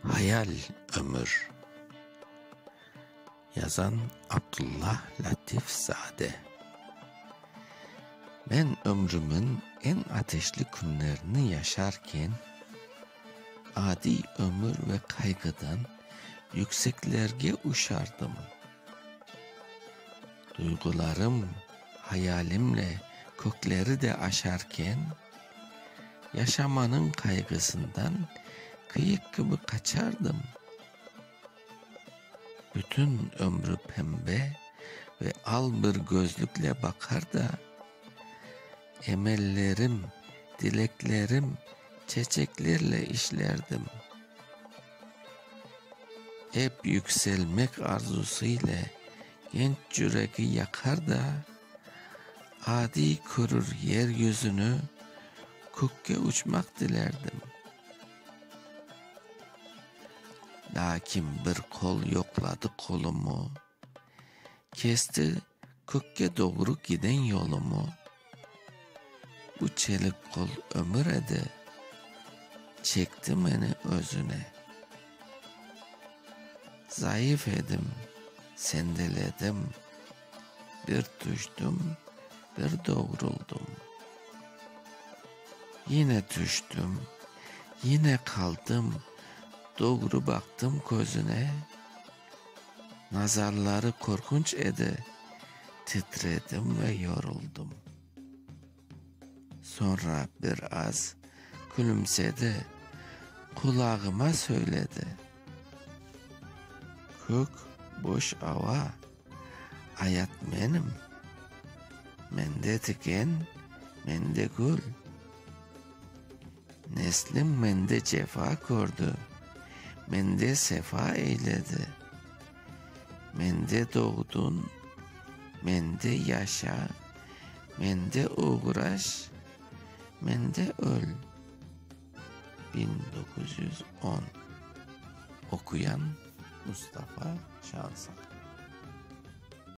Hayal ömür. Yazan, Abdulla Latif Saade. Men ömrümiñ eñ ateşli künlerini yaşarken, adiy ömür ve qayğıdan yükseklerge uçardım. Duyğularım hayalimle kökleri de aşarken, Yaşamanıñ qayğısından kıyıq kibi qaçardım. Bütün ömrü pembe ve al bir gözlükle baqar da, emellerim, tileklerim çeçeklerle işlerdim. Ep yükselmek arzusuyle genç cüregi yaqar da. Adiy körür yer yüzüni, Kökke uçmaq dilerdim. Lâkin bir qol yoqladı qolumı, Kesti kökke doğru giden yolumı. Bu çelik qol ömür edi, Çekti meni özüne. Zayıf edim, sendeledim. Bir tüştüm, bir doğruldım. Yine tüştüm, yine qaldım, Doğru baqtım közüne. Nazarları qorqunç edi, Titredim ve yoruldım. Soñra bir az külümsedi, qulağıma söyledi. Kök, boş ava, ayat menim, mende tiken, mende gül. Neslim mende cefa kördi, mende sefa eyledi. Mende doğdun, mende yaşa, mende uğraş, mende öl. Biñ doquz yüz on. Oquyan, Mustafa Şansaq.